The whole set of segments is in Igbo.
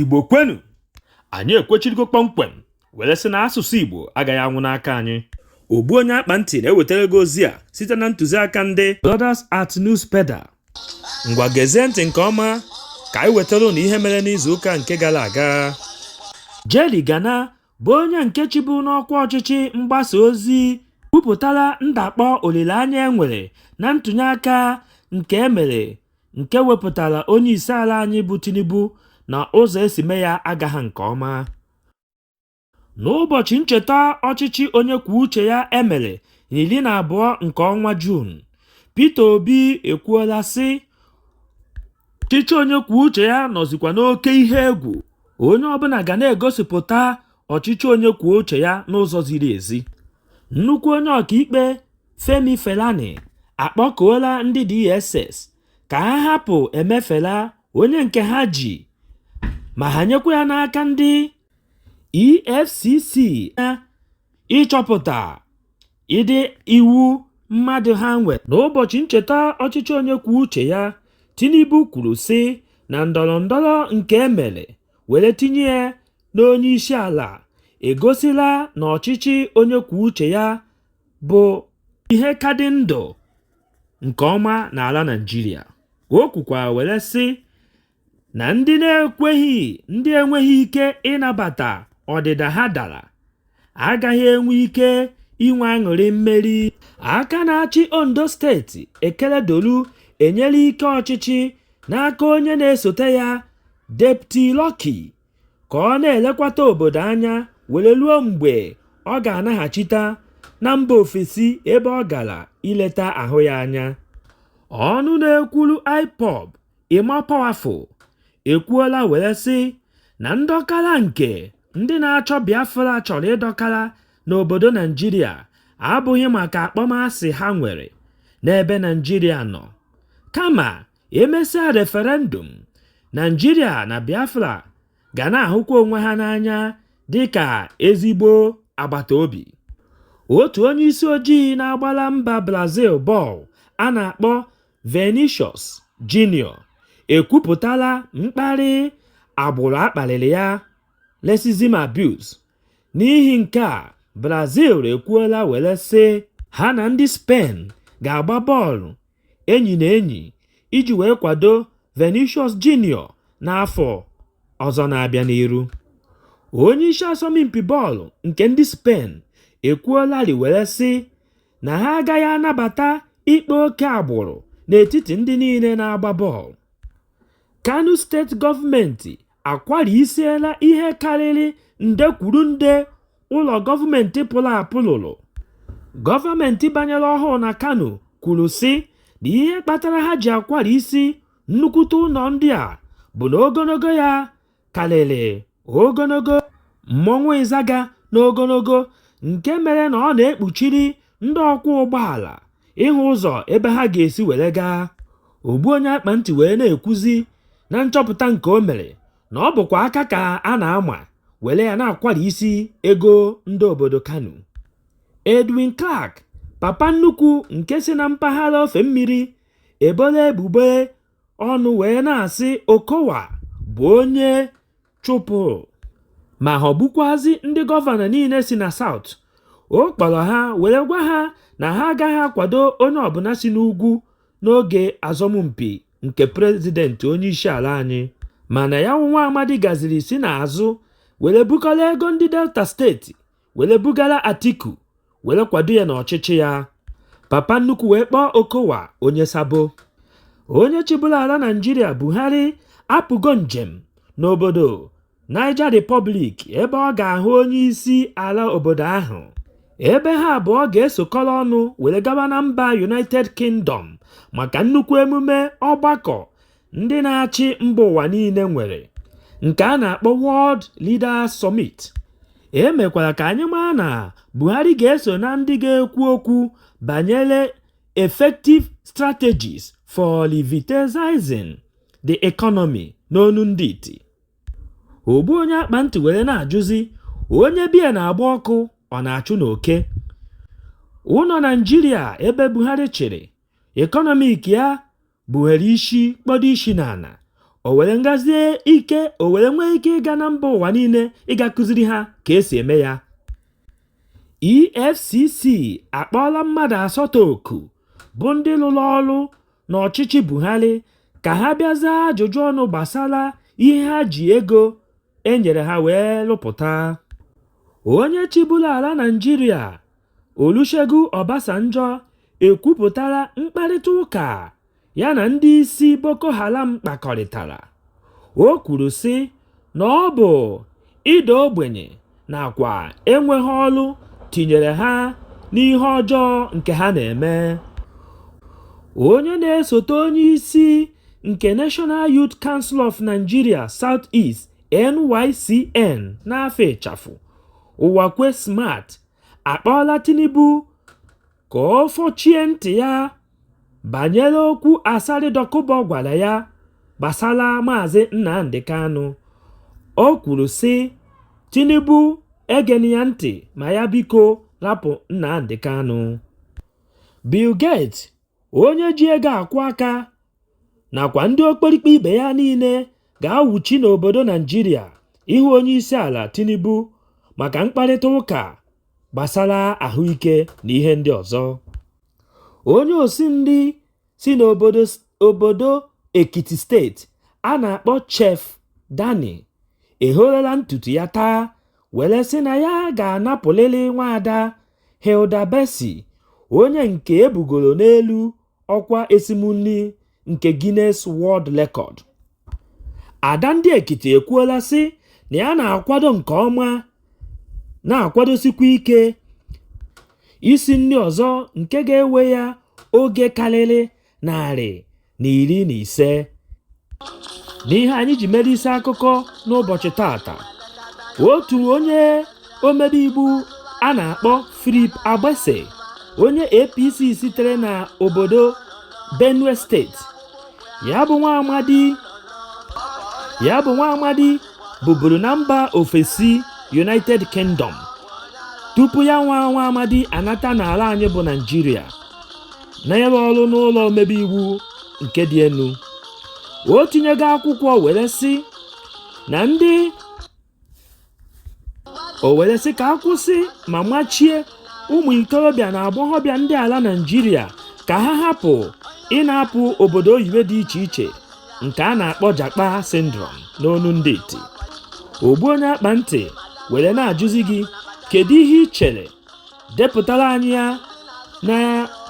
igbo kwenu anyị ekwechirigo kpọmkwem were sị na asụsụ igbo agaghị anwụ n'aka anyị ogbu onye akpa ntị na-ewetara gị ozi a site na ntụziaka ndị Brothers at News Pedal ngwa gezie ntị nke ọma ka anyị wetara ụnụ ihe mere n'izu ụka nke gara aga Jerry Gana bụ onye nke chịbu n'ọkwa ọchịchị mgbasa ozi kwupụtara ndakpọ olileanya e nwere na ntụnyeaka nke e mere nke wepụtara onyeisiala anyị bụ Tinubu na ụzọ e si mee ya agaghị nke ọma. N'ụbọchị ncheta ọchịchị onye kwuo uche ya e mere n'iri na abụọ nke ọnwa Juun, Peter Obi ekwuola sị ọchịchị onye kwuo uche ya nọzikwa n'oke ihe egwu onye ọbụla ga na-egosipụta ọchịchị onye kwuo uche ya n'ụzọ ziri ezi nnukwu onye ọkaikpe Femi Falana akpọkuola ndị DSS ka ha hapụ Emefiele onye nke ha ji ma ha nyekwa ya n'aka ndị EFCC ịchọpụta ịda iwu mmadụ ha nwere n'ụbọchị ncheta ọchịchị onye kwuo uche ya tinubu kwuru sị na ndọrọ ndọrọ nke e mere were tinye ya n'onye isi ala egosila na ọchịchị onye kwuo uche ya bụ ihe ka dị ndụ nke ọma n'ala naịjirịa o kwukwara were sị na ndị na-ekweghị ndị enweghị ike ịnabata ọdịda ha dara agaghị enwe ike inwe aṅụrị mmeri aka na-achị ondo steeti Akeredolu enyela ike ọchịchị n'aka onye na-esote ya deputy Lucky ka ọ na-elekwata obodo anya were ruo mgbe ọ ga-anaghachita na mba ofesi ebe ọ gara ileta ahụ ya anya ọnụ na-ekwuru ipob Emma Powerful ekwuola were sị na ndọkara nke ndị na-achọ Biafra chọrọ ịdọkara n'obodo Naịjirịa abụghị maka akpọmasị ha nwere n'ebe Naịjirịa nọ, kama e mesịa referendum, Naịjirịa na Biafra ga na-ahụkwa onwe ha n'anya dị ka ezigbo agbata obi. Otu onye isi ojii na-agbara mba Brazil bọọlụ a na-akpọ Vinicius Junior ekwupụtala mkparị agbụrụ a kparịrị ya racism abuse. N'ihi nke a, Brazil ekwuola were sị ha na ndị Spain ga-agba bọọlụ enyi na enyi iji wee kwado Vinicius Junior n'afọ ọzọ na-abịa n'iru. Onyeisi asọmpi bọọlụ nke ndị Spain ekwuolarị were sị na ha agaghị anabata ikpe oke agbụrụ n'etiti ndị niile na-agba bọọlụ. Kano steeti gọọmenti akwarisiela ihe karịrị nde kwuru nde ụlọ gọọmenti pụrụ apụ lụrụ. Gọọmenti banyere ọhụụ na Kano kwuru sị na ihe kpatara ha ji akwarisi nnukwute ụlọ ndị a bụ na ogologo ya karịrị ogologo mmọnwụ Ịzaga n'ogologo nke mere na ọ na-ekpuchiri ndị ọkwọ ụgbọala ịhụ ụzọ ebe ha ga-esi were gaa. Ogbu onye akpa ntị wee na-ekwuzi na nchọpụta nke o mere na ọ bụkwa aka ka a na-ama were ya na-akwarisi ego ndị obodo Kano. Edwin Clark, papa nnukwu nke si na mpaghara ofe mmiri, ebola ebubo ọnụ wee na-asị Okowa bụ onye chụpụrụ ma ghọgbukwazi ndị gọvanọ niile si na South. Ọ kpọrọ ha were gwa ha na ha agaghị akwado onye ọbụla si n'ugwu n'oge asọmpi nke prezidentị onyeisiala anyị. Mana ya bụ nwa amadi gaziri si n'azụ were bukọrọ ego ndị Delta steeti were bugara Atiku were kwado ya n'ọchịchị ya papa nnukwu wee kpọọ Okowa onye sabo onye chịburu ala Naịjirịa Buhari apụgo njem n'obodo Niger Republic ebe ọ ga-ahụ onye isi ala obodo ahụ ebe ha abụọ ga-esokọrọ ọnụ were gaba na mba United Kingdom maka nnukwu emume ọgbakọ ndị na-achị mba ụwa niile nwere nke a na-akpọ World Leaders Summit e mekwara ka anyị maa na Buhari ga-eso na ndị ga-ekwu okwu banyere effective strategies for revitalizing the economy n'onu ndị iti ogbu onye akpa ntị were na-ajụzi onye be ya na-agba ọkụ ọ na-achụ n'oke ụlọ Naịjirịa ebe Buhari chịrị ekọnọmik ya buhere isi kpọdo isi n'ala o were nwezie ike o were nwee ike ịga na mba ụwa niile ịga kụziri ha ka e si eme ya EFCC akpọọla mmadụ asatọ oku bụ ndị lụrụ ọrụ n'ọchịchị Buhari ka ha bịa zaa ajụjụ ọnụ gbasara ihe ha ji ego e nyere ha wee lụpụta. Onye chịburu ala Naịjirịa Olusegun Obasanjo ekwupụtala mkparịta ụka ya na ndị isi Boko Haram kpakọrịtara. O kwuru sị na ọ bụ ịda ogbenye nakwa enweghị ọrụ tinyere ha n'ihe ọjọọ nke ha na-eme. Onye na-esote onye isi nke National Youth Council of Nigeria Southeast (NYCN) n'afa ịchafụ, Uwakwe Smart, akpọọla Tinubu ka ọ fọchie ntị ya banyere okwu Asari Dokubo gwara ya gbasara Maazị Nnamdi Kanu. O kwuru sị, Tinubu egena ya ntị ma ya biko rapụ Nnamdi Kanu. Bill Gates onye ji ego akwụ aka nakwa ndị okperikpe ibe ya niile ga-awụchi n'obodo Naịjirịa ịhụ onye isi ala Tinubu maka mkparịta ụka gbasara ahụike na ihe ndị ọzọ. Onye osi nri si n'obodo Ekiti steeti a na-akpọ Chef Dammy ehorela ntutu ya taa were sị na ya ga-anapụlịrị nwaada Hilda Baci, onye nke ebugoro n'elu ọkwa esim nri nke Guinness World Record. Ada ndị Ekiti ekwuola sị na ya na-akwado nke ọma na-akwadosikwa ike isi nri ọzọ nke ga-ewe ya oge karịrị narị na iri na ise n'ihe anyị ji mere isi akụkọ n'ụbọchị tata otu onye omebe iwu a na-akpọ Philip Agbese onye APC sitere na obodo Benue steeti ya bụ nwa amadi buburu na mba ofesi United Kingdom tupu ya nwa nwa amadi anata n'ala anyị bụ Naịjirịa na ịrụ ọrụ n'ụlọ omebe iwu nke dị elu o tinyego akwụkwọ were sị na ndị o were sị ka a kwụsị ma machie ụmụ ikorobịa na agbọghọbịa ndị ala naijiria ka ha hapụ ịna-apụ obodo oyibo dị iche iche nke a na-akpọ japa syndrome n'ọnụ ndị iti ogbu onye akpa ntị were na-ajụzi gị kedu ihe i chere depụtara anyị ya na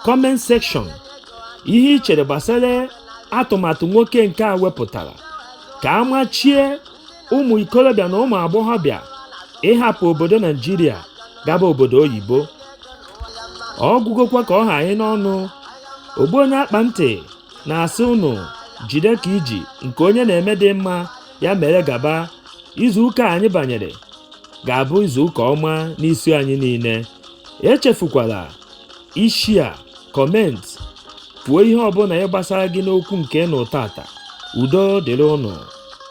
comment section ihe i chere gbasara atụmatụ nwoke nke a wepụtara ka a machie ụmụ ikorobịa na ụmụ agbọghọbịa ịhapụ obodo naijiria gaba obodo oyibo ọ gwụgokwa ka ọ ha anyị n'ọnụ ogbu onye akpa ntị na-asị ụnụ jide ka i ji nke onye na-eme dị mma ya mere gaba izu ụka anyị banyere ga-abụ izu ụka ọma n'isi anyị niile echefukwala ishia comment kwuo ihe ọbụla ya gbasara gị n'okwu nke ị nụrụ tata udo dịrị ụnụ